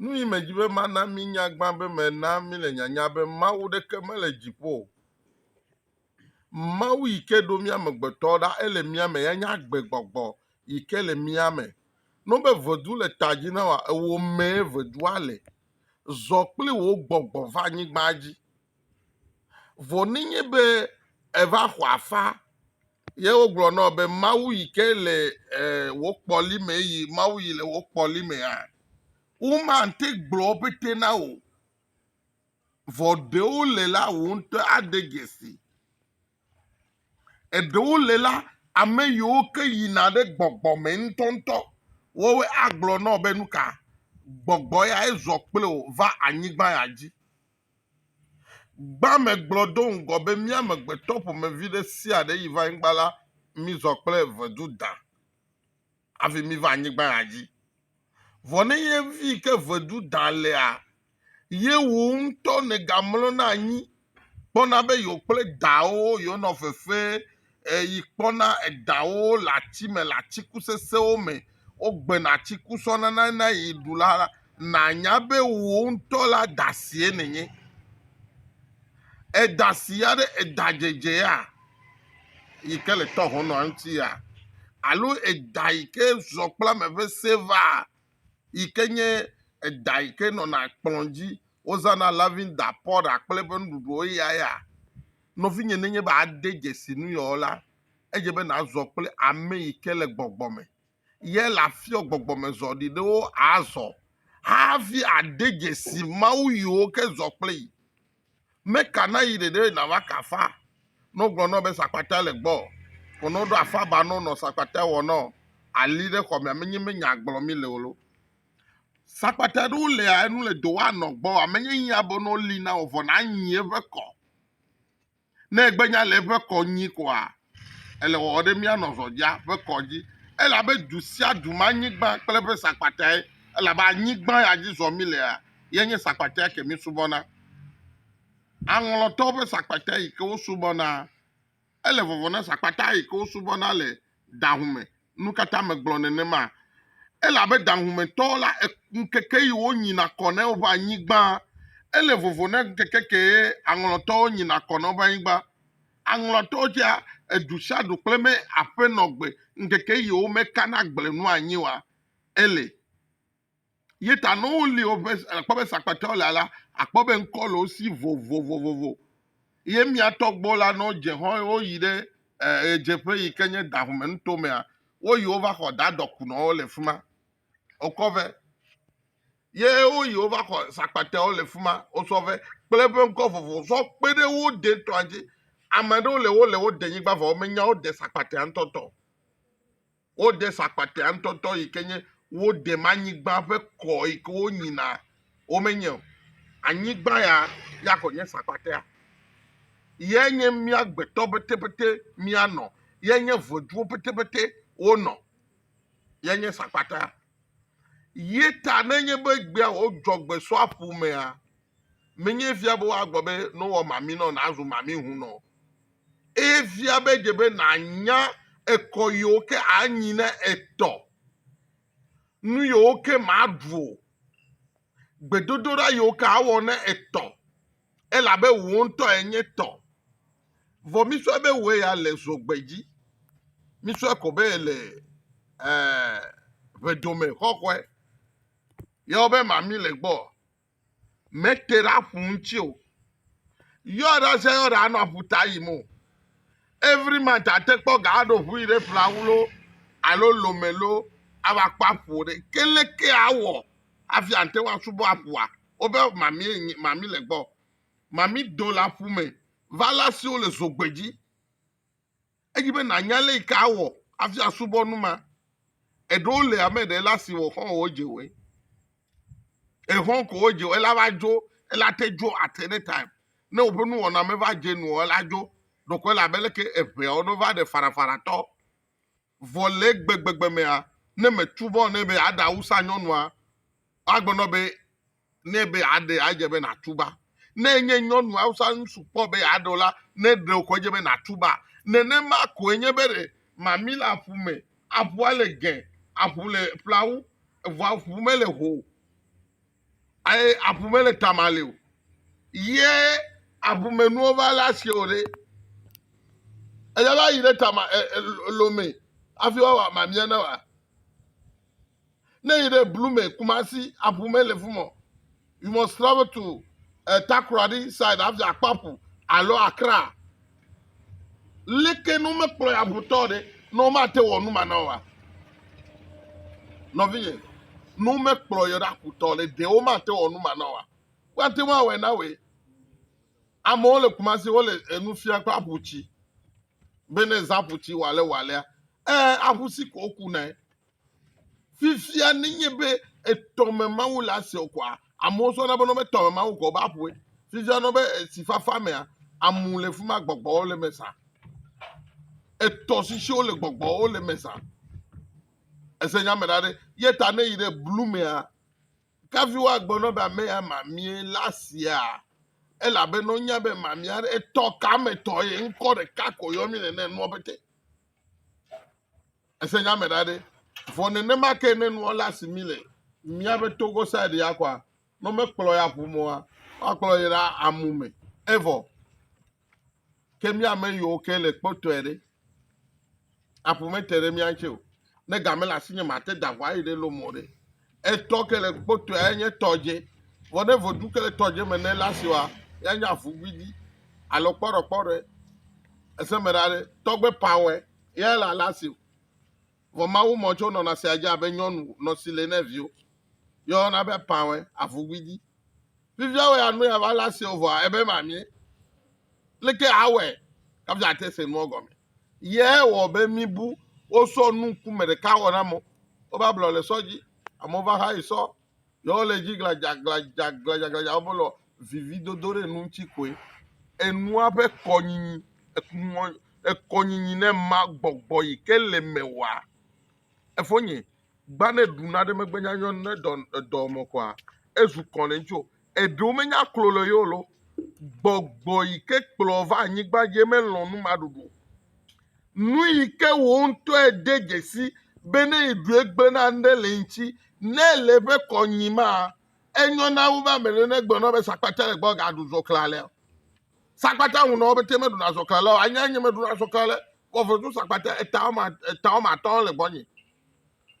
Nu yi medzi be mana minya gbã be mena mile nyanya be Mawu ɖeke mele dziƒo o. Mawu yi ke ɖo mía amegbetɔwo ɖa ele mía me ya nye agbegbɔgbɔ yi ke le mía me. No be vedu le ta dzi na wòa, ewò mee vedua le. Zɔ kple wò gbɔgbɔ va anyigba dzi. Vɔ nenye be èva xɔ afa Ye wogblɔ nɔ be Mawu yi ke le eh, wò kpɔli me yi Mawu yi le wò kpɔli me hã. Womate gblɔ pete na wò. Vɔ ɖewo le la wò ŋutɔ ade dzesi. Eɖewo le la ame yiwo ke yina ɖe gbɔgbɔ me ŋutɔŋutɔ. Woawoe agblɔ nɔ be nu ka gbɔgbɔ ya ezɔ kple wò va anyigba ya dzi. Gbã me gblɔ do ŋgɔ be mía amegbetɔ ƒomevi ɖe sia ɖe yi va anyigba la, mi zɔ kple vedu dã hafi mi va anyigba ya dzi. Vɔ ne ye vi ke vedu dã lea, ye wò ŋutɔ nègamlɔna anyi kpɔna be yewo kple dawò yewonɔ fefe yi kpɔna eɖawo le ati me le atiku sesẽwo me. Wogbena atiku tsɔ nana ne eyi ɖu la, nànya be wò ŋutɔ la ɖa sie nènye. Eɖa si ya ɖe eɖa dzedze ya yi ke le tɔ hɔnɔa ŋuti ya alo eɖa yi ke zɔ kple ame ƒe se vaa yi ke nye eɖa yi ke nɔna kplɔ̃ dzi wozãna lavinda, pɔɖa kple eƒe nuɖuɖuwo eya ya? Nɔvinye, nenye be àde dzesi nu yeɔ la, edze be nàzɔ kple ame yi ke le gbɔgbɔ me. Ye le afiɔ gbɔgbɔmezɔ ɖi ɖewo azɔ hafi àde dzesi Mawu yiwo ke zɔ kple yi. Meka na yi ɖeɖe nàva ka afa nɔ gblɔ nɔ be sakpata le gbɔ o. Vɔ nɔ ɖo afa ba nɔ nɔ sakpata wɔ nɔ ali ɖe xɔ mea, menye be nya gblɔ mi le o lo. Sakpata ɖewo lea enu le do wa nɔ gbɔ amenye yia be nɔ li na wò vɔ nanyi eƒe kɔ. Ne egbe nya le eƒe kɔ nyi koa, ele wɔwɔ ɖe mía nɔ zɔdja ƒe kɔ dzi. Elabe du sia du ma nyigba kple eƒe sakpatae, elabe anyigba ya dzi zɔ mi lea, ye nye sakpatae ke mi subɔna. Aŋlɔtɔwo ƒe sakpatae yi ke wo subɔna. Ele vɔvɔ̃ na sakpata yi ke wosubɔna le daŋu me. Nukata megblɔ nenema? Elabe daŋumetɔwo la, ŋkeke yi wonyina kɔ ne woƒe anyigba. Ele vovo ne ŋkeke kee aŋlɔtɔwo nyina kɔ ne woƒe anyigba. Aŋlɔtɔwo tsea, edu sia du kple me aƒenɔgbe ŋkeke yi womekana gble nu anyi oa, ele. Ye ta ne woli woƒe akpɔ be sakpatɔwo le la, akpɔ be ŋkɔ le wo si vovovovovo. Ye mía tɔgbuiwo la, ne wodze xɔ eye woyi ɖe eh, ɣedzeƒe yi ke nye dahume nuto mea, woyi wova xɔ da dɔkunɔwo le fi ma. Wokɔ vɛ. Ye woyi wova xɔ sakpatɔwo le fi ma, wosɔ vɛ kple eƒe ŋkɔ vovovo sɔ kpe ɖe wo de ŋutɔa dzi. Ame aɖewo le wo le wo de nyigba vɔ womenya wo de sakpatɔa ŋutɔtɔ. Wode sakpatea ŋutɔtɔ yi ke nye wodem anyigba ƒe kɔ yi ke wonyina wo menye o. Anyigba ya ya ko nye sakpatea. Ye nye mía gbetɔ petepete mía nɔ. Ye nye ʋeduwo petepete wo nɔ. Ye nye sakpatea. Ye ta ne nye be gbea wo dzɔ gbe sɔ aƒu mea, menye fia be woagblɔ be ne wɔ mami nɔ na zu mami ŋu nɔ. eye fia be dze be nànya ekɔ yiwo ke anyi ne etɔ, nu yiwo ke màɖu o, gbedodoɖa yiwo ke awɔ ne etɔ, elabe wò ŋutɔ ènye tɔ. Vɔ mísɔe be wòe ya le zogbe dzi, mísɔe ko be èle ee ʋedome xɔxɔe. Yewɔ be mami le gbɔ, mete ɖe aƒu ŋuti o yɔɖa sia yɔɖa anɔ aƒuta yim o every month ate kpɔ ga aɖo ʋu yi ɖe ƒlawu lo alo lome lo ava kpɔ aƒu ɖe ke leke awɔ hafi ate ŋu asubɔ aƒua wobe mami mami le gbɔ mami do le aƒu me vala siwo le zogbedzi Edzi be nànya lé yi ke awɔ hafi asubɔ nu ma. Eɖewo le ame ɖe la si wɔ xɔ̃ wɔ dze wɔe. Exɔ̃ ko wɔ dze wɔe la va dzo ela te dzo at any time. Ne woƒe nuwɔna me va dze nu ela dzo ɖokɔe la be leke eʋeawo no va ɖe farafaratɔ. Vɔ le gbegbegbe mea, ne mètu vɔ nɛ be aɖe awusa nyɔnua, agbenɔ be nɛ be yeaɖe adze be nàtuba. Ne enye nyɔnu Hausa ŋutsu kpɔ be yeaɖe o la, ne ɖe wòxɔ edze be nàtuba. Nenema koe nye be ɖe mami le aƒu me, aƒua le gẽ, aƒu le ƒlawu, vɔ aƒu mele ho o, eye aƒu mele tamale o, ye aƒumenuwo va le asi o ɖe, eya va yi ɖe tama e, e, lome hafi woawɔ mamia na wòa? Ne yi ɖe blu me Kumasi aƒu me le fumɔ. You must travel to uh, Takoradi side hafi akpɔ aƒu alo Accra. Leke ne womekplɔ ya ʋutɔ ɖe ne womate wɔ nu ma na wa? Nɔvinye, ne womekplɔ yɔ ɖe aƒutɔ ɖe de womate wɔ nu ma na wa. Woate ŋu awɔe na wòe. Amewo le Kumasi wole enu fia kple aƒu tsi. Bene zã aƒu tsi wale walea. Ee, aƒu si ko woku nae. Fifia ne nye be etɔme Mawu le ase o kɔa, amewo sɔna be nɔbe tɔme Mawu kɔ be aƒue. Fifia nɔbe etsi fafa mea, amu le fima gbɔgbɔwo le me sa. Etɔ sisiwo le gbɔgbɔwo le me sa. Ese nya me ɖa ɖe. Ye ta ne yi ɖe blu mea, kavi wa gbe nɔbe ame ya mamie la sia. Ela be nɔ nya be mamia ɖe etɔ ka me tɔ ye ŋkɔ ɖeka ko yɔ mi nene nua bete. Ese nya me ɖa ɖe. Vɔ nenema ke ne nua le asi mi le míaƒe togo side ya kɔa, ne womekplɔ ya ƒu mɔa, woakplɔ yi ɖa amu me. Evɔ ke mía ame yiwo ke le kpɔtɔe ɖe. Aƒu mete ɖe mía ŋuti o. Ne ga mele asinye mate da ʋu ayi ɖe lomɔ ɖe. Etɔ ke le kpɔtɔe enye tɔ dze. Vɔ ne vodu ke le tɔ dze me ne la siwa, ya nya fu gbidi. Alo kpɔɖɔ kpɔɖɔe. Ese me ɖa ɖe, tɔgbe pawɔe, ya la la si. Vɔ Mawu mɔ tso nɔna sia dze abe nyɔnu nɔ si le ne viwo. Yɔ yɔna be pawɔe, afu gbidi. Fifia wɔ ya nu ya va la si o vɔ ebe mamie. Leke awɔe? Kafi ate se nua gɔme. Ye wɔ be mi bu wo sɔ nu ŋkume ɖeka wɔ na mo. Wo va blɔ le sɔ dzi. Amewo va xa yi sɔ. Ye wo le dzi gladza gladza gladza gladza wo be lɔ vivi dodo ɖe enu ŋuti koe. Enua ƒe kɔnyinyi ekumɔ ekɔnyinyi ne ma gbɔgbɔ yi ke le me wa. Efonye gba ne ɖu na ɖe megbe nya nyɔ ne dɔ edɔ mɔ kɔa ezu kɔ le ŋuti o. Eɖewo menya klo le yewo lɔ. Gbɔgbɔ yi ke kplɔ va anyigba dzi melɔ̃ numaɖuɖu o. Nu yi ke wò ŋutɔ ède dzesi be ne èɖu egblẽ na ame ɖe le eŋuti, ne èle eƒe kɔ nyim ma, enyo na wu be ame ɖe negblɔ na wò be sakpata le gbɔ gaɖu zɔkle alea. Sakpata ŋu na wo pete meɖuna zɔkle alea o. Anya nye meɖuna zɔkle alea, vɔ vetu sakpata eta woame, eta woame atɔ̃ le gbɔnye.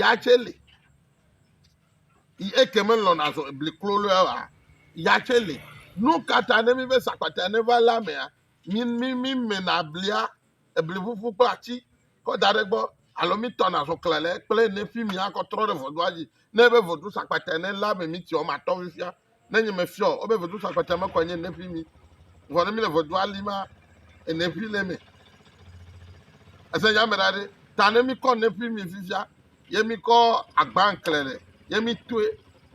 ya tsɛ li eke melɔ̃na zɔ ebli klo lɔ wa ya tsɛ li nu ka ta ne mi be sakpata ne va la mea mi mi mi mena blia ebli ƒuƒu kple ati kɔ da ɖe gbɔ alo mi tɔna zɔ kle le kple ne fi mi akɔ trɔ ɖe vodua dzi ne be vodu sakpata ne la me mi tiɔ ma tɔ fifia Ne nye me fiɔ, obe vedu sa kpata me kɔ nye ne fi mi. Vɔ ne mi le vedu ali ma, ene fi le me. Ese nya me ɖaɖe. Ta ne mi kɔ ne fi mi fifia, ye mi kɔ agba nkle ɖe, ye mi toe,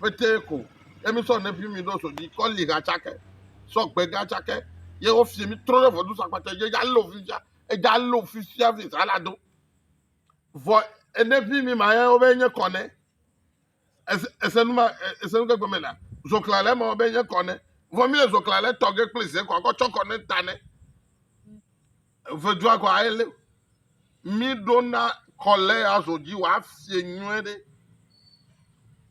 fete ko, ye mi sɔ ne fi mi ɖo so di kɔ li ha tsake, sɔ gbe ga tsake, ye wo fi mi trɔ ɖe vedu sa kpata, ye ja lo fifia, eja lo fifia fi sa la do. Vɔ ene fi mi ma ye wo be nye kɔ ne. Ese, ese nu ma, e- ese nu ke gɔme na. Zɔkla le eme be nye kɔ ne. Vɔ mi le zɔkla le tɔ ge kple ze kɔ akɔ tsɔ kɔ ne ta ne. Vedua kɔ aye le. Mi ɖo na kɔ le azɔ dzi wa fie nyuie ɖe.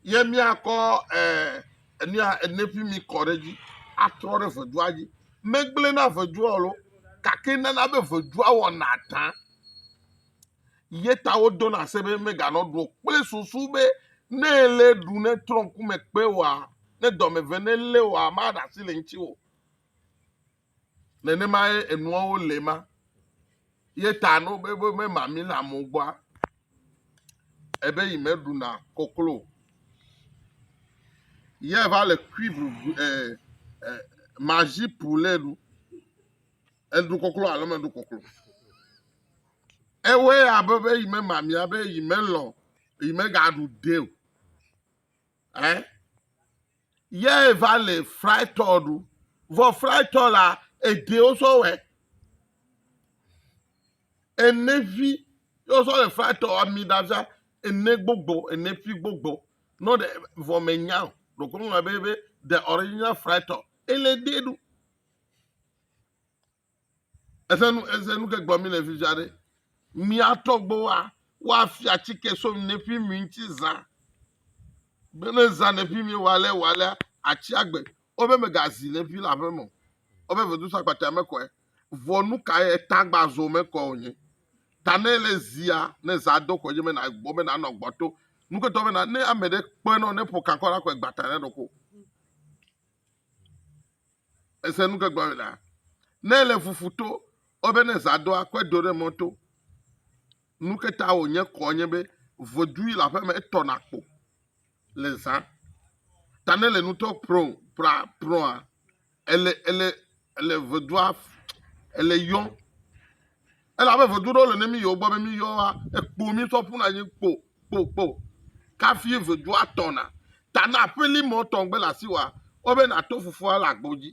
Ye mi akɔ eh enu ya ene pi mi kɔ ɖe dzi atrɔ ɖe vedua dzi. Megble na vedua o lo. Kake nana be vedua wɔna ta. Ye ta wodo na se be meganɔ ɖuɔ kple susu be ne ele ɖu ne trɔ ŋku me kpe oa, ne dɔ me ve ne lé oa, maɖe asi le ŋuti o. Nenemae enuawo le ma. Ye ta ne wobe be mema mi le amewo gbɔa, ebe yi me ɖuna koklo o. Ye va le cuivre vu e e magie pour le ɖu. Eɖu koklo alo meɖu koklo. Ewɔe abe be yi memamia be yi melɔ̃ yi megaɖu de o. Eh? Ye va le fritɔ ɖu. Vɔ fritɔ la ede wosɔ wɛ. Ene vi ye wosɔ le fritɔ ami ɖavia ene gbogbo ene fi gbogbo. Nɔ ɖe vɔ menya o. Ɖokunu be be the original fritɔ ele de ɖu. Ese nu ese nu ke gblɔ mi le fifia ɖe. Mia tɔgbuiwoa woafia atike so neƒi mi ŋuti zã. Be ne zã neƒi mi wɔ ale wɔ alea atsi agbe. Wobe megazi neƒi le aƒeme o. Wobe vedu so akpatɛ me kɔe. Vɔ nu kae eta gba zo me kɔ o nye. Ta ne ele zia ne zã do kɔ dzi me na gbɔ be nanɔ gbɔ to. Nu ke tɔ be na ne ame ɖe kpɔe nɔ ne ƒo kankɔ la kɔe gbata ne ɖoko. Èse nu ke gblɔm la? Ne èle fufu to o be ne zã do akɔe do ɖe mɔto, nu ke ta wònye kɔ nye be vodui le aƒeme etɔna kpo le zã. Ta ne le nutɔ prɔ pra prɔa ele ele ele vodua ele yɔm Elabe ʋedu ɖewo le ne míyɔ gbɔ be míyɔ wa, ekpo mísɔ ƒuna anyi kpo kpo kpo. Kafi ʋedua tɔna. Ta na aƒeli mɔ tɔ gbe le asi wa, wo be na to fufua le agbo dzi.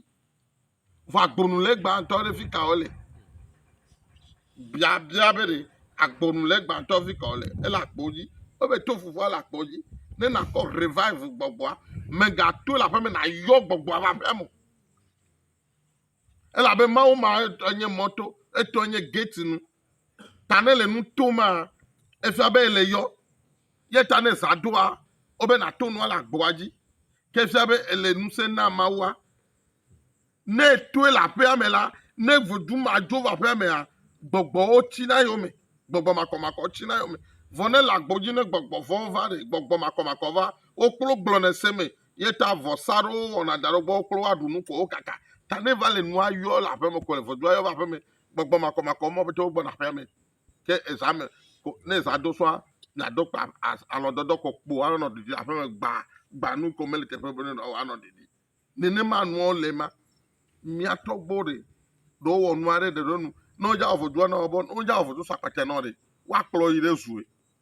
Vɔ agbonu le gbãtɔ ɖe fi ka wo le. Bia bia be ɖe agbonu le gbãtɔ fi ka wo le. Ele agbo dzi. Wo be to fufua le agbo dzi. Ne na kɔ revive gbɔgbɔa, mega to le aƒeme na yɔ gbɔgbɔa va aƒea mo. Elabe Mawu ma enye mɔto, etɔe nye gate nu. Ta ne le nu tom maa, efia be ele yɔ. Ye ta ne zã ɖoa, wobe nato nua le agboa dzi. Ke efia be ele ŋusẽ na Mawua. Ne etoe le aƒea me la, ne vodu ma dzo va aƒea mea, gbɔgbɔwo tsina eyome. Gbɔgbɔ makɔmakɔwo tsina eyome. Vɔ ne le agbo dzi ne gbɔgbɔ vɔ̃wo va ɖe, gbɔgbɔ makɔmakɔ va, wokplo gblɔnɛ se mee. Ye ta vɔsa aɖewo wɔna da ɖe egbɔ kple woaɖu nu ko wokaka. Ta ne va le nua yɔ le aƒeme ko le vodua yɔ va aƒeme gbɔgbɔ makɔmakɔ ma ƒete wogbɔna aƒea me. Ke eza me ko ne eza do sɔa miado kpa alɔdɔdɔ kɔ kpo anɔ ɖiɖi aƒeme gba gba nu ko mele teƒe be ne anɔ ɖiɖi. Nenema nuawo le ma. Mia tɔgbo ɖe ɖe wowɔ nua ɖe ɖe ɖe nu ne wodzawɔ vodua na wo be ne wodzawɔ vodu sakpatia na wo ɖe woakplɔ yi ɖe zue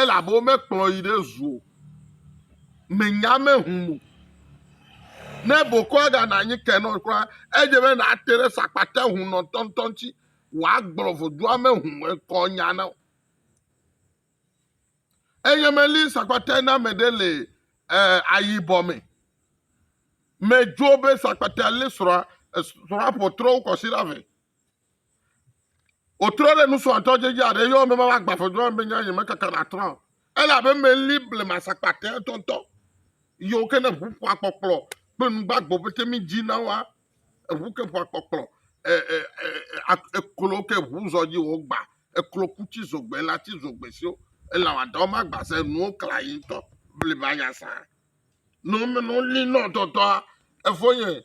Elabe womekplɔ yi ɖe zu o. Mènya ame hum o. Ne bokɔa gana anyi kenɔ kura, edze be nàte ɖe sakpata hum nɔtɔntɔ ŋuti wòagblɔ vodua me hum ŋkɔ nya na wò. Enye meli sakpata na ame ɖe le eh, ayibɔ me. Medzo be sakpata li srɔ̃a, srɔ̃a ƒotrɔwo kɔsi ɖa vɛ. Wotrɔ ɖe nusrɔ̃tɔ dzi dzi aɖe yɔm be mava gbafɔdua be nya nye mekaka na trɔ. Ele abe meli blema sakpatɛ tɔtɔ. Yɔ ke ne ʋu ƒua kpɔkplɔ kple nugbagbo pete mi dzi na wa. Eʋu ke ƒua kpɔkplɔ e e e eklo ke ʋu zɔ dzi wo gba. Eklo ku tsi zogbe la tsi zogbe siwo ele wa dɔ ma gba se nuwo kla yi tɔ blema nya sa. No me no li nɔ tɔtɔa efo nye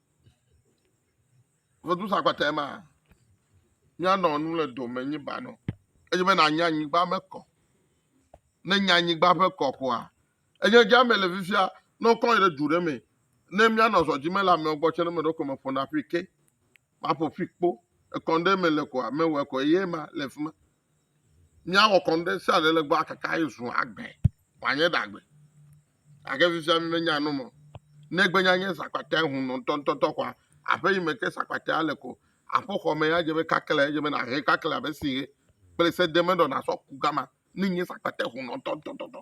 Vedu sa kpata ma. Míanɔ nu le dome nyi banɔ. Edzi be nànya anyigba me kɔ. Ne nya anyigba ƒe kɔ koa, enye dza me le fifia, ne wokɔ ɖe du ɖe me, ne míanɔ zɔ dzi me le amewo gbɔ tsɛ, ne meɖo ko me ƒona ƒi ke, maƒo ƒi kpo, ekɔ ɖe me le koa, mewɔe ko eye ma le fi ma. Míawɔ kɔnu ɖe sia ɖe le gbɔ akaka ye zu agbe wòanye ɖagbe. Gake fifia mi menya nu me. Negbe nya nye sakpatea hunu ŋutɔŋutɔtɔ kɔa, aƒe yi me ke sakpatea le ko. Aƒexɔ me ya dze be kaklɛ edze be nàhe kaklɛ abe si he kple sedemeɖɔ nàsɔ ku gama. Ne nye sakpatea hunu ŋutɔŋutɔtɔ.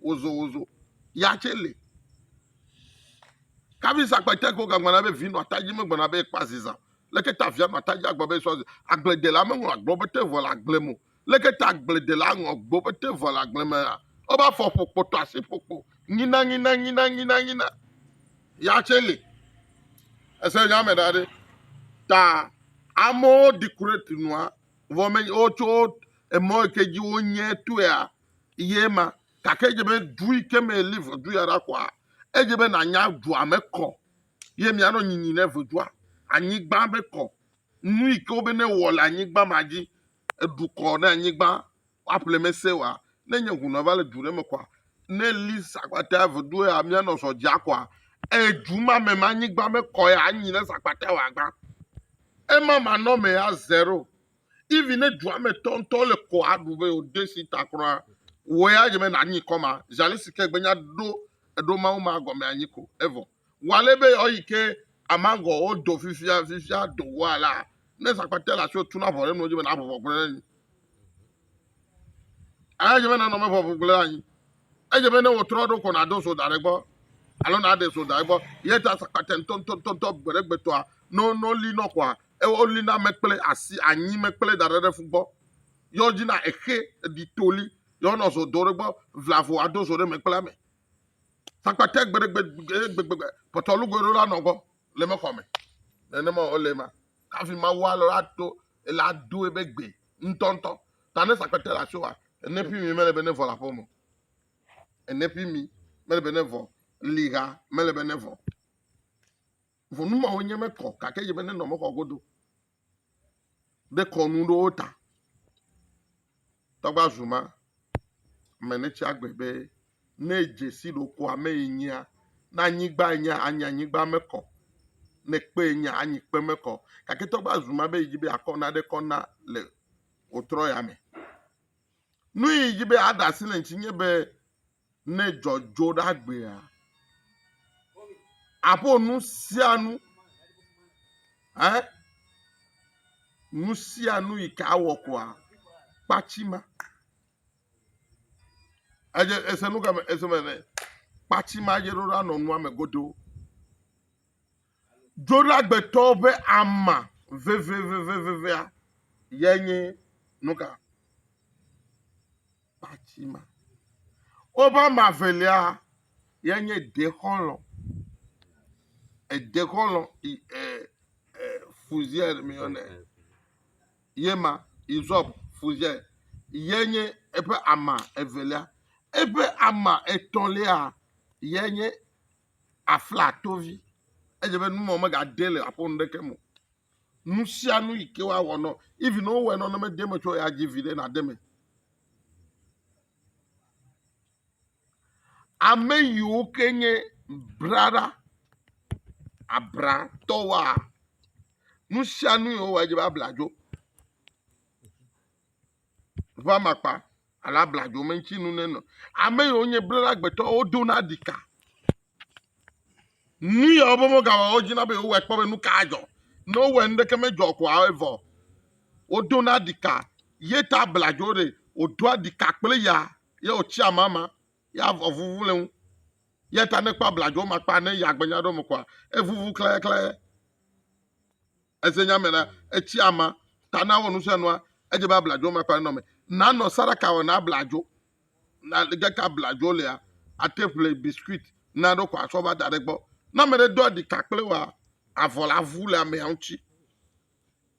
wozowozo ya tsɛ li kavi sa kpɛtɛ ko gagbana be vi nɔ atadzi megbana be ekpa ziza leke ta via nɔ atadzi agblɔ be sɔ agbledela meŋlɔ agblɔ be te vɔ le agble mo leke ta agbledela ŋlɔ agblɔ be te vɔ le agble me ya wobe afɔ ƒo kpɔtɔ asi ƒo kpo nyina nyina nyina nyina nyina ya tsɛ li ese nya me da ɖe ta amewo dekorate nua vɔ me wotso emɔ yi ke dzi wonye tɔea Ye ma, gake edze be du yi ke me eli ʋedu ya ɖa kɔa, edze be nànya dua me kɔ, ye mianɔ nyinyi ne ʋedua, anyigba be kɔ, nu yi ke wobe ne wɔ le anyigba ma dzi, eɖu kɔ ne anyigba, woaƒle mese wa, ne nye ŋu nɔ va le du ɖe me kɔa, ne eli sakpata ʋedu ya mianɔ zɔ dzi akɔa, eye du ma me ma anyigba me kɔ ya anyi ne sakpata wa gbã. Ema manɔ me ya zero. Even ne dua me tɔ ŋutɔ le kɔ aɖu be o de si ta kura, wɔ ya dze be na nyi kɔ ma. Zali si ke gbenya ɖo eɖo mawu ma gɔme anyi ko. Evo. Wale be yɔ yi ke amagɔ o do fifia fifia do wa la. Ne zakpate la sio tuna vɔ ɖe nuwo dzi be na vɔvɔ gblẽ nyi. Eye dze be nanɔ me ʋɔʋu gblẽ anyi. Edze be ne wòtrɔ ɖo ko nàdo so da ɖe egbɔ alo nàɖe so da egbɔ. Ye ta sakpatɛ ŋutɔŋutɔŋutɔ gbeɖegbeɖtɔa, ne woli nɔ koa, woli na me kple asi, anyi me kple da ɖe ɖe fu gbɔ. Ye wodzi na exe, eɖi toli, ye wonɔ zo do ɖe egbɔ, vla vo ado zo ɖe me kple ame. Sakpatɛ gbeɖegbeɖegbegbegbe pɔtɔlugoe ɖo la nɔ gbɔ le mexɔ me. Nenema wòle ema. Hafi Mawu alɔ ato ele ado ebe gbee. ŋutɔŋutɔ ta ne sakpete le asioa ene ƒi mi mele be ne vɔ le aƒeme ene ƒi mi mele be ne vɔ liha mele be ne vɔ vɔ nu mawo nye mekɔ gake yi be ne nɔ mexɔ godo ɖe kɔnu ɖewo ta tɔgba zuma me ne tsi agbe be Ne edze si ɖokɔ ame ye nyea, ne anyigba ye nyea, anyi anyigba me kɔ, ne kpe ye nyea, anyi kpe me kɔ. Gake togbɔ azu ma be yedi be yeakɔ nane kɔ na le wòtrɔ ya me. Nu yi yedi be yeaɖe asi le eŋuti nye be ne dzɔdzɔ ɖe agbea, aƒo nu sia nu eh, nu sia nu yi ke awɔ koa, kpatsi ma. Edze ese nu ka me ese me ne kpati ma dze ɖo la nɔ nua me godoo. Dzoɖagbetɔ ƒe ama vevevevevea ye nye nu ka? Kpati ma. Woƒe ama velia ye nye dexɔlɔ̃. Edexɔlɔ̃ e e fuziae mi yɔ nɛ. ye ma, hyssop, fuse, ye nye eƒe ama evelia. Eƒe ama etɔ̃lia ye nye aflatovi. Edze be numa megade le aƒe nuɖeke me o. Nu sia nu yi ke woawɔ nɔ, even ne wowɔe nɔ ne mede eme tsɔ o la, dzi viɖe nade eme. Ame yiwo ke nye braɖa abratɔwoa, nu sia nu yi wowɔa edze be abladzo ƒe amakpa alo abladzo me ŋuti nu nenɔ. Ame yiwo nye braɖa agbetɔwo wodona ɖi ka. Nu ya wo be womegawɔ o wodina be yewowɔe kpɔ be nu ka adzɔ. Ne wowɔe nuɖeke medzɔ o koa evɔ. Wodona ɖi ka ye ta abladzo ɖe wodoa ɖi ka kple ya. ye wòtsi amama, ye avɔ vuvu le ŋu, ye ta nekpɔ abladzo ma kpa ne ya gbenya ɖo me kɔa, evuvu klayaklaya. Eze nya me la, etsi ama, ta na wɔ nu sia nua, edze be abladzo ma kpa nenɔ me. Nanɔ sadaka wɔ na abladzo, na gake abladzo lea, ate ƒle biscuit na ɖo kɔ asɔ va da ɖe gbɔ. Na me ɖe do aɖika kple wɔ avɔ la vu le amea ŋutsi.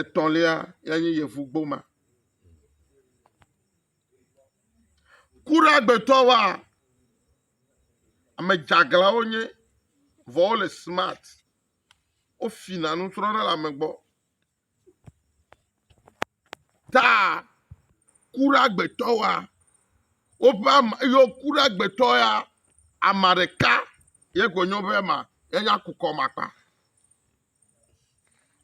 Etɔ̃lia ya nye yevugboma. Ku ɖe agbetɔ wa, ame dzeaglã wonye vɔ wole simat. Wofina nusrɔ̃ɖe le ame gbɔ. Taa ku ɖe agbetɔ wa, woƒe am, yɔ ku ɖe agbetɔ ya, ame ɖeka ye ko nyo be ma ye nya kukɔ makpa.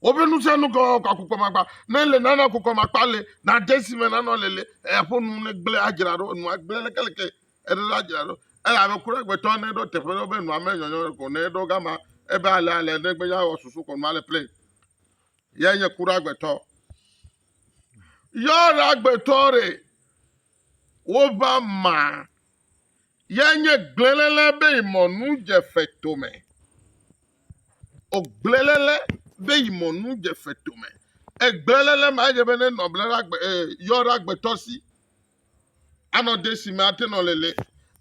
Woƒe nusianukɔ akukɔmakpa. Ne ele nana akukɔmakpa le na de si me nanɔ le le eƒo nu ne gblẽ adzra ɖo enua gblẽ lekeleke eɖo la adzra ɖo. Eye ame kura gbetɔ ne ɖo teƒe ɖo be nua me nyɔnyɔ ko ne ɖo gama ebe ale ale ne gbe ya wɔ susu ko nua le plɛ. Yɛ nye kura gbetɔ. Yɔ la gbetɔ re. Wova ma ye nye gblẽlele be yi mɔnu dze fetome. O gblẽlele be yi mɔnu dze fetome. E gblẽlele ma ye be ne nɔ ble ɖa gbe e yɔ ɖa gbetɔ si. Anɔ de si me ate nɔ lele.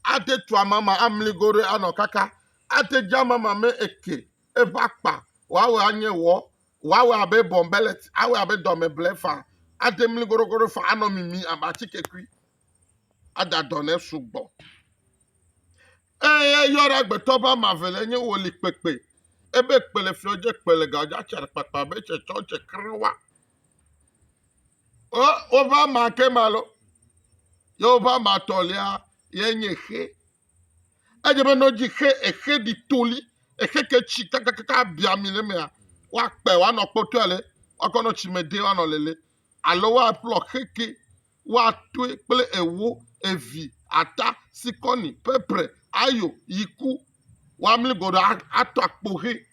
Ate tu amama amligo ɖe anɔ kaka. Ate dze amama me eke eƒe akpa Woawɔe anye wɔ, woawɔe abe bɔnbɛlɛti, awɔe abe dɔmeble faa, ade mli goɖogoɖo faa, anɔ mimi abe atikekui, ada dɔ nɛ sugbɔ. Eye eyɔ ɖe agbetɔ ƒe ame eve le nye wòli kpekpe, ebe kpe le fiɔ dze, kpe le ga dze, atsa ɖekpakpa be tse tsɔ tse krẽ wa. O, woƒe ama ke ma lo, ye woƒe ama tɔlia ye nye xe. Edze be ne wodzi xe exe ɖi toli, exe ke tsi kakakaka abia ami le emea, woakpe woanɔ kpɔtɔe ale woakɔ nɔ tsi me de woanɔ lele alo woaƒlɔ xe ke woatoe kple ewo, evi, ata, sikɔni, pepre, ayo, yiku woamli go ɖo atɔ akpo xe.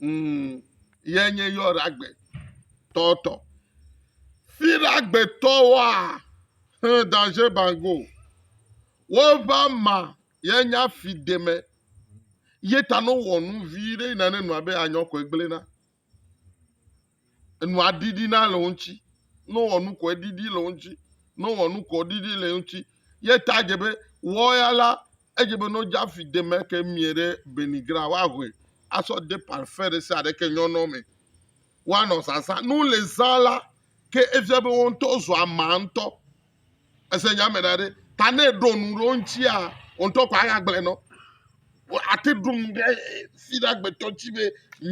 Mm, ye nye yɔɖagbe tɔtɔ. Fiɖagbetɔwoa he daje bango. Wova ma ye nya fi deme. Ye ta no wɔ nu vi ɖe yina ne nua be anyɔ kɔe gblena. Enua ɖiɖina le wo ŋuti. Ne wowɔ nu koe, eɖiɖi le wo ŋuti. Ne wowɔ nu koe, eɖiɖi le wo ŋuti. Ye ta dze be wɔya la, edze be ne wodze afi de me ke mie ɖe benigra, woahoe asɔ de parfɛn ɖe sia ɖe ke nyɔnɔ me. Woanɔ zazã. Ne wole zã la, ke efia be wo ŋutɔ zua ame ŋutɔ. Ese nya me ɖa ɖe. Ta ne ɖo nu ɖe wo ŋutia, wo ŋutɔ ko aya gblẽ nɔ. Ate ɖo nu ɖe si ɖe agbetɔ ŋuti be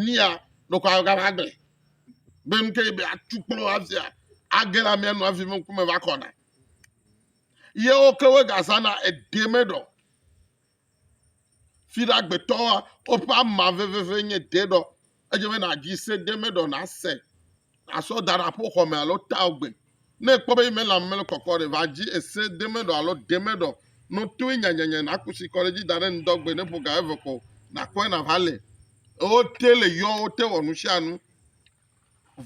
mía ɖo ko aya gava gblẽ. Be nu ke be atu kplɔ avia, age la mía nu avi me ŋkume va kɔna. Ye wo ke wo gazana eɖe me ɖɔ. Fiɖagbetɔwoa, woƒe ama veveve nye deɖɔ. Edze be nàdzi se de eme ɖɔ nàse, àsɔ da ɖe aƒoxɔ me alo ta gbe. Ne èkpɔ be eme le ame le kɔkɔ ɖe, va dzi ese de eme ɖɔ alo de eme ɖɔ. No toe nyanyanya nàku tsi kɔ ɖe edzi da ɖe ŋdɔgbe ne ƒo ga eve ko nàkpɔe nàva le. Wote le yɔ, wote wɔ nu sia nu.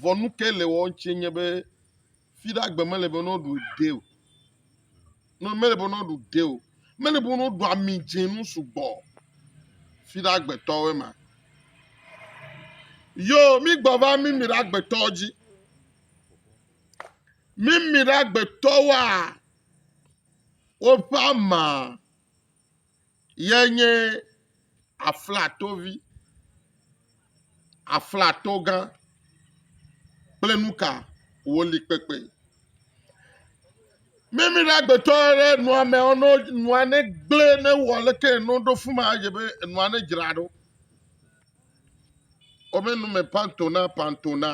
Vɔ nu kae le wɔ eŋuti nye be Fi ɖe agbe mele be ne woɖu ɖe o. No mele be ne woɖu ɖe o. Mele be ne woɖu ami dze nu sugbɔ. Fi ɖe agbetɔwoe ma. Yo, mi gbɔ va mi mi ɖe agbetɔwo dzi. Mi mi ɖe agbetɔwoa woƒe ama. ye nye aflatovi, aflatogã kple nuka wòli kpekpe. Mími ɖe agbetɔ ɖe nua me ɔno nua ne gblẽ ne wɔ leke eno ɖo fu ma dze be enua ne dzra ɖo. Wome nu me pantona pantona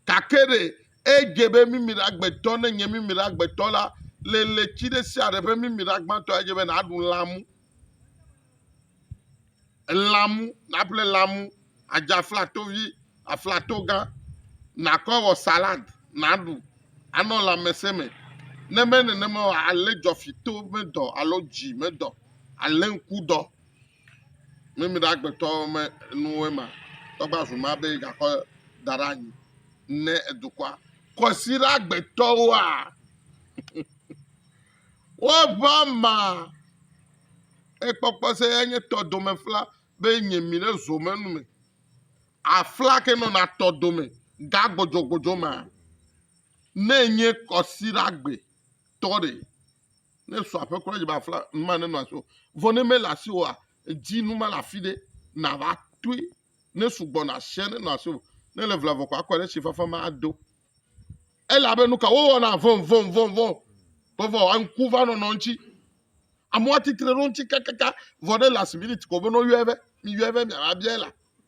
gake ɖe Edze be mimila gbetɔ, ne nye mimila gbetɔ la, le ɣleti ɖe sia ɖe ƒe mimila gbãtɔ, edze be nàɖu lãmu, lãmu, nàƒle lãmu, àdze aflatovi, aflatogã, nàkɔ awɔ salad, nàɖu, anɔ lãmesẽ me. Ne menye nenema o, alé dzɔfitɔ ƒe dɔ alo dzi me dɔ, alé ŋku dɔ. Mímí ɖe agbetɔ me nuwo ema tɔgbe azu ma be gakɔ da ɖe anyi ne edukɔa. Kɔsi ɖe agbetɔwoa. Woƒe ama ekpɔkpɔ se ya nye tɔ dome fla be nye mi ɖe zo me nu me. Afla ke nɔna tɔ dome ga gbɔdzɔgbɔdzɔ ma. Ne nye kɔsi ɖe agbe tɔ ɖe. Ne sɔ aƒe kura dzi be afla nu ma nenɔ asi o. Vɔ ne mele asi oa, edzi nu ma le afi ɖe nàva toe. Ne sugbɔ na asia nenɔ asi o. Ne le vla vɔ ko akɔe ɖe tsi fafa me ado. Elabe nu ka wowɔna vɔvɔvɔvɔ vɔvɔ ŋku va nɔnɔ ŋuti. Amewo atitre ɖe ŋuti kakaka vɔ ɖe last minute ko be ne woyɔe be miyɔe be miava bia la.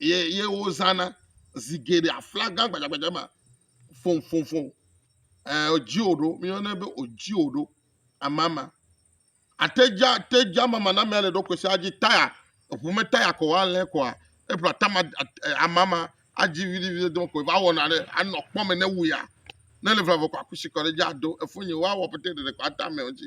ye ye wozãna zi geɖe aflaga gbadzagbadza ma fofofo e odzi o ɖo míyɔnɛ be odzi o ɖo amama atedza atedza mamanamea le ɖokui sia dzi taya eʋu me taya ko woalɛ koa eƒe atama amama adzi viɖiviɖi do ko va wɔna ɖe anɔ kpɔ me ne wuia ne le vavɔ ko akusi kɔ ɖe edzi ado efu nyi woawɔ pɛtɛ ɖeɖe ko ata ame o dzi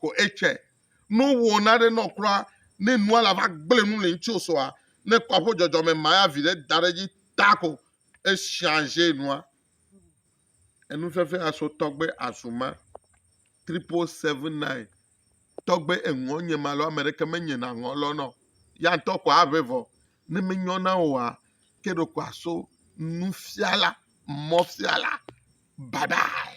ko etsɛ. No wò naɖe nɔ kura ne nua la va gblẽ nu le ŋutsi osoa, ne kpɔ aƒo dzɔdzɔ me maya viɖe da ɖe dzi ta ko echanger nua. Enu fɛfɛ aso tɔgbe azu ma. Triple seven nine tɔgbe eŋɔ nye ma lɔ ame ɖeke me nye na ŋɔ lɔ nɔ ya ŋutɔ ko aʋe vɔ ne me nyɔ na woa ke ɖo ko aso nufiala mɔfiala bye bye.